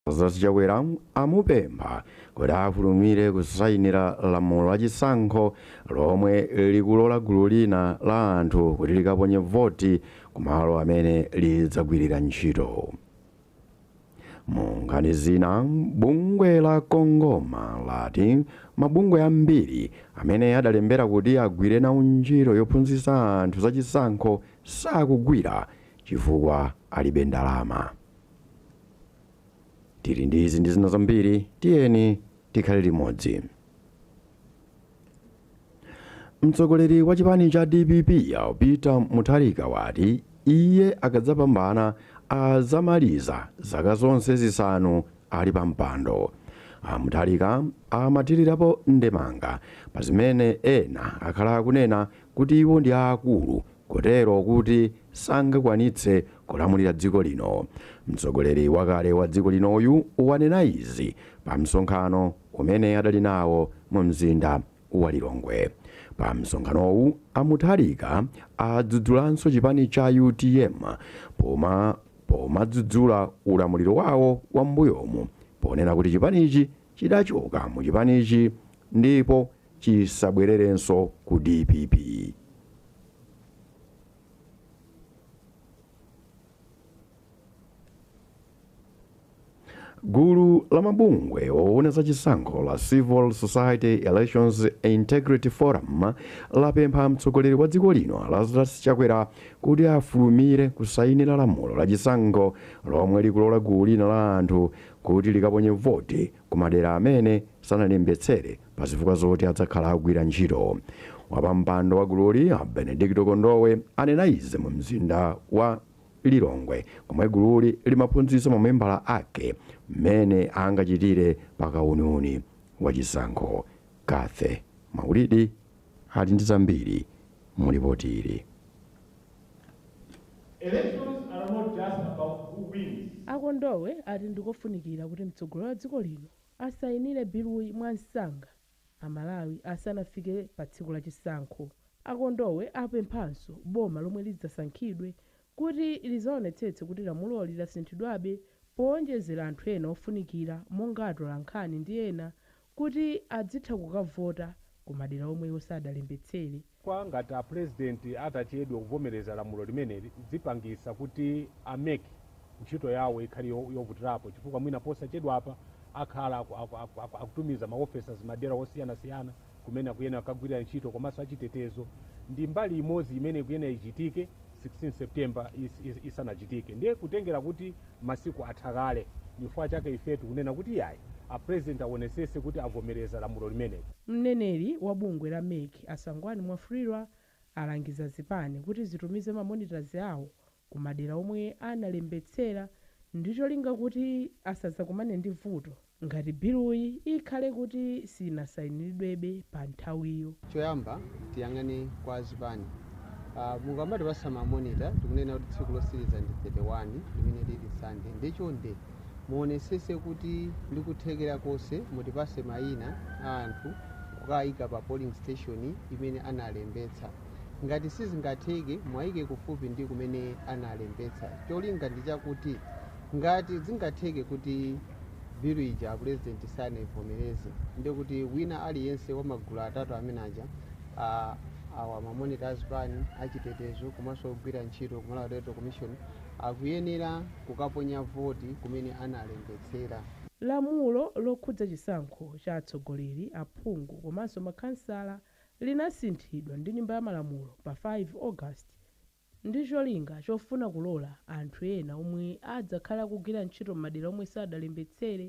Lazarus Chakwera amupempha kuti afulumire kusayinira lamulo la chisankho lomwe likulola gulu lina la anthu kuti likaponye voti kumalo amene lidzagwirira ntchito. Mu nkhani zina, bungwe la Congoma lati mabungwe ambiri amene adalembera kuti agwire nawo ntchito yophunzitsa anthu za chisankho sakugwira chifukwa alibe ndalama. Tili ndi izi ndi zina zambiri, tiyeni tikhale limodzi. Mtsogoleri wa chipani cha dpp a Peter Mutharika wati iye akadzapambana adzamaliza zaka zonse zisanu ali pa mpando. A Mutharika amathirirapo ndemanga pa zimene ena akhala akunena kuti iwo ndi aakulu kotero kuti sangakwanitse kulamulira dziko lino. Mtsogoleri wakale wa dziko linoyu wanena izi pa msonkhano umene adali nawo mu mzinda wa Lilongwe. Pa msonkhanowu, a Mutharika adzudzulanso chipani cha utm pomadzudzula ulamuliro wawo wa m'mbuyomu ponena kuti chipanichi chidachoka mu chipanichi ndipo chisabwererenso ku dpp gulu la mabungwe owona za chisankho la civil society elections integrity forum lapempha mtsogoleri wa dziko lino lazarus chakwera kuti afulumire kusayinira lamulo la chisankho lomwe likulola gulu lina la anthu kuti likaponye voti ku madera amene sanalembetsere Pazifukwa zoti adzakhala agwira ntchito, wapampando wa gululi a Benedicto Kondowe anena izi mu mzinda wa Lilongwe komwe gululi limaphunzitsa mamembala ake mmene angachitire pa kauniuni wa chisankho. Cathy Maulidi ali ndi zambiri mu lipoti ili. Elections are not just about who wins. A Kondowe ati ndikofunikira kuti mtsogoleri wa dziko lino Asayinire biluyi mwamsanga Amalawi asanafike pa tsiku la chisankho. A Kondowe apemphanso boma lomwe lidzasankhidwe kuti lizaonetsetse kuti lamuloli lasinthidwabe powonjezera anthu ena ofunikira monga atolankhani ndi ena kuti adzitha kukavota ku madera omwe iwo sadalembetsere. Kwa ngati a president atachedwe kuvomereza lamulo limeneli zipangisa kuti a mec ntchito yawo ikhale yovutilapo chifukwa mwina posachedwapa akhala akutumiza ma officers madela osiyana siyana kumene akuyenela kukagwilira ntchito komaso achitetezo ndi mbali imozi imene ikuyenela ichitike 16 September isanachitike ndiye kutengela kuti masiku atha kale ndichifukwa chake ife tikunena kuti iyayi a president awonesese kuti avomereza lamulo limeneli. Mneneri wa bungwe la mec A Sangwani Mwafulirwa alangiza zipani kuti zitumize ma monitors awo ku madera omwe analembetsera ndi cholinga kuti asazakumane ndi vuto ngati biluyi ikhale kuti sinasainilidwebe pa nthawiyo. Choyamba tiyang'ane kwa azipani. Mukamatipasa ma monitor tikunena kuti tsiku losiliza ndi 31 limene lili Sunday nde chonde Muonesese kuti ndi kuthekera konse mutipase maina a anthu kukaika pa polling station imene analembetsa. Ngati sizingatheke muwaike kufupi ndi kumene analembetsa. Cholinga ndi chakuti ngati zingatheke kuti bill ija a Pulezidenti sanaivomereze ndiye kuti wina aliyense wa magulu atatu amene aja awa ma monitor a zipani, achitetezo komanso ogwira ntchito ku Malawi Electoral Commission akuyenera kukaponya voti kumene analembetsera. Lamulo lokhudza chisankho cha atsogoleri, aphungu komanso makhansala linasinthidwa ndi Nyumba ya Malamulo pa 5 August ndi cholinga chofuna kulola anthu ena omwe adzakhale akugwira ntchito m'madera omwe sadalembetsere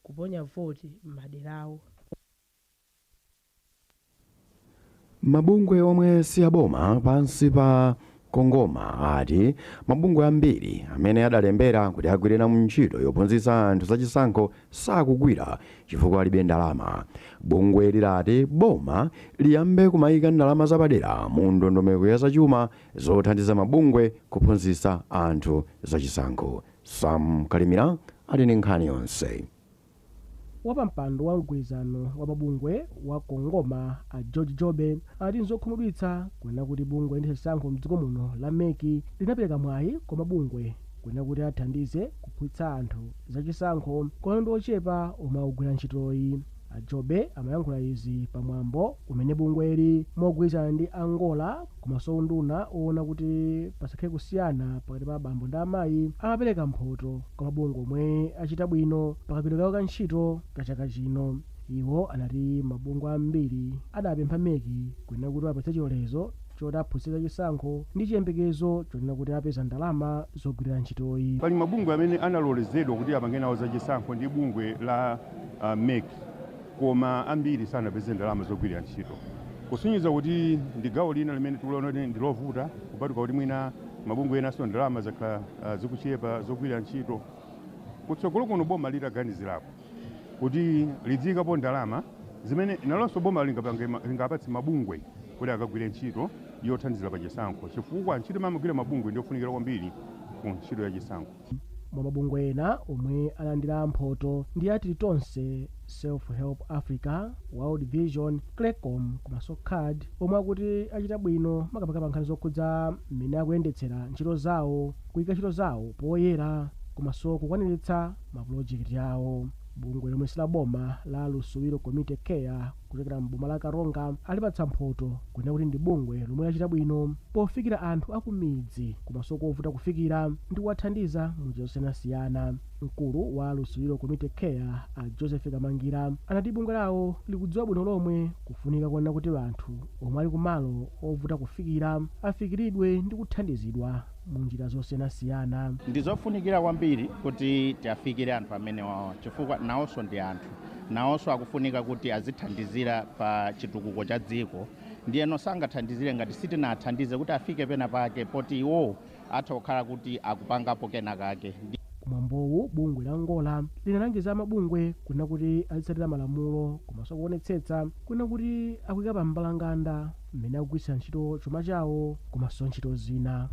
kuponya voti m'maderawo. Mabungwe omwe si aboma pansi pa Congoma ati mabungwe ambiri amene adalembera kuti agwire nawo ntchito yophunzitsa anthu za chisankho sakugwira chifukwa alibe ndalama. Bungweli lati boma liyambe kumaika ndalama zapadera mu ndondomeko ya zachuma zothandiza mabungwe kuphunzitsa anthu za chisankho. Sam Kalimira ali ndi nkhani yonse. Wapampando wa mgwirizano wa mabungwe wa Congoma a George Jobe ati nzokhumudwitsa kunena kuti bungwe loyendetsa chisankho mdziko muno la mec linapereka mwayi kwa mabungwe kunena kuti athandize kuphunzitsa anthu za chisankho komano ndi ochepa omwe akugwira ntchitoyi. A Jobe amayankhula izi pa mwambo umene bungweli mogwirizana ndi a Ngora Komanso unduna owona kuti pasakhale kusiyana pakati pa abambo ndi amayi amapereka mphoto kwa mabungwe omwe achita bwino pa kagwiridwe kawo ka ntchito ka chaka chino. Iwo anati mabungwe ambiri adapempha mec kunena kuti iwapatse chilolezo choti aphunzitse za chisankho ndi chiyembekezo chonena kuti apeza ndalama zogwirira ntchitoyi. Pali mabungwe amene analolezedwa kuti apange nawo za chisankho ndi bungwe la mec. koma ambiri sanapeze ndalama zogwirira ntchito, kusonyeza kuti ndi gawo lina limene tikuliona ndi lovuta kupatula kuti mwina mabungwe enanso ndalama zakhala zikuchepa zogwirira ntchito. Kutsogolo kuno boma litaganizirapo kuti lidziikapo ndalama zimene nalonso boma lingapatse mabungwe kuti akagwire ntchito yothandizira pa chisankho chifukwa ntchito imene amagwira mabungwe ndi yofunikira kwambiri ku ntchito ya chisankho. mwa mabungwe ena omwe alandira mphoto ndi a tilitonse self help africa world vision creccom komanso card omwe akuti achita bwino makamaka pa nkhani zokhudza mmene akuyendetsera ntchito zawo kuyika ntchito zawo poyera komanso kukwaniritsa mapulojekiti awo bungwe lomwe silaboma la lusubilo community care kuchokera m'boma la Karonga alipatsa mphoto kunena kuti ndi bungwe lomwe lachita bwino pofikira anthu akumidzi komanso kovuta kufikira ndi kuwathandiza mu njira zosiyanasiyana. Mkulu wa Lusubilo Community Care a Joseph Kamangira anati bungwe lawo likudziwa bwino lomwe kufunika konena kuti anthu omwe ali kumalo ovuta kufikira afikiridwe ndi kuthandizidwa mu njira zosiyanasiyana. Ndi zofunikira kwambiri kuti tiafikire anthu amenewawa chifukwa nawonso ndi anthu. nawonso akufunika kuti azithandizira pa chitukuko cha dziko. Ndiyeno sangathandizire ngati sitinathandize kuti afike pena pake poti iwo atha kukhala kuti akupangapo kena kake. Kumwambowu, bungwe la NGORA linalangiza amabungwe kunena kuti azitsatira malamulo komanso kuonetsetsa kunena kuti akuika pa mbalanganda mmene akugwiritsira ntchito chuma chawo komanso ntchito zina.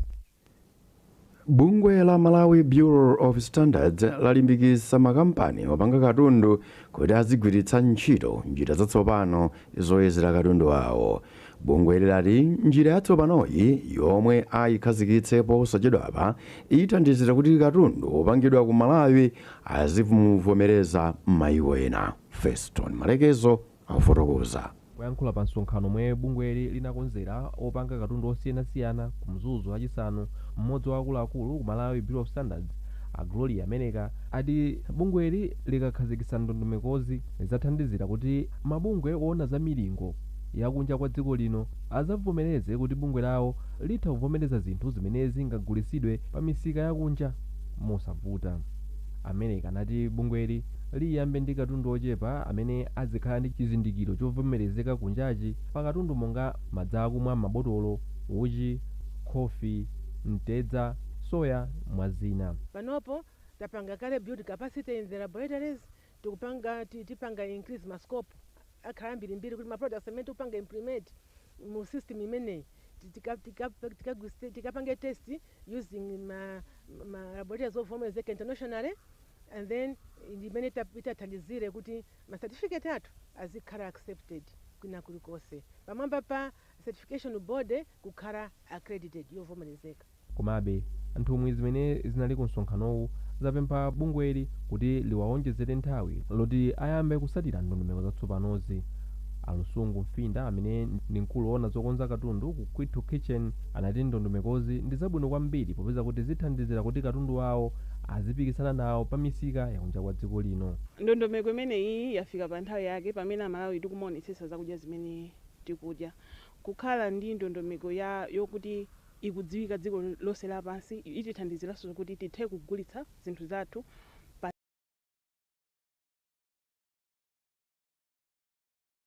Bungwe la Malawi Bureau of Standards lalimbikitsa makampani opanga katundu kuti azigwiritsa ntchito njira zatsopano zoyezera katundu awo. Bungweli lati njira yatsopanoyi yomwe ayikhazikitse posachedwapa ithandizira kuti katundu wopangidwa ku Malawi azimuvomereza m'mayiko ena. Feston Malekezo, akufotokoza. Kuyankhula pa msonkhano omwe bungweli linakonzera opanga katundu osiyanasiyana ku Mzuzu lachisanu, m'modzi wa akuluakulu ku Malawi Bureau of Standards, a Gloria Meleka, ati bungweli likakhazikitsa ndondomekozi, zizathandizira kuti mabungwe oona za milingo ya kunja kwa dziko lino azavomereze kuti bungwe lawo litha kuvomereza zinthu zimene zingagulisidwe pa misika ya kunja mosavuta. A Meleka anati bungweli liyambe ndi katundu ochepa amene azikhala ndi chizindikiro chovomerezeka kunjachi pa katundu monga madzi akumwa m'mabotolo, uchi, khofi, mtedza, soya mwa zina. Panopo tapanga kale build capacity in the laboratories, tikupanga tipanga increase ma scope akhala ambirimbiri kuti ma products amene tikupanga implement mu system imeneyi, ti- tika- tika- tikagwiritse- tikapange test using ma, ma laboratories ovomerezeka internationally and then imene ita- itathandizire kuti ma certificate athu azikhala accepted kwina kulikonse pamwamba pa certification board kukhala accredited yovomerezeka Komabe, nthumwi zimene zinali ku msonkhanowu zapempha bungweli kuti liwaonjezere nthawi loti ayambe kusatira ndondomeko zatsopanozi. A Lusungu Mfinda amene ndi mkulu oona zokonza katundu ku Kwithu Kitchen anati ndondomekozi ndi zabwino kwambiri popeza kuti zithandizira kuti katundu wawo azipikisana nawo pa misika ya kunja kwa dziko lino. Ndondomeko imeneyi yafika pa nthawi yake pamene Amalawi tikumaonetsetsa zakudya zimene tikudya. Kukhala ndi ndondomeko yokuti ikudziwika dziko lonse lapansi. Itithandiziranso kuti tithe kugulitsa zinthu zathu.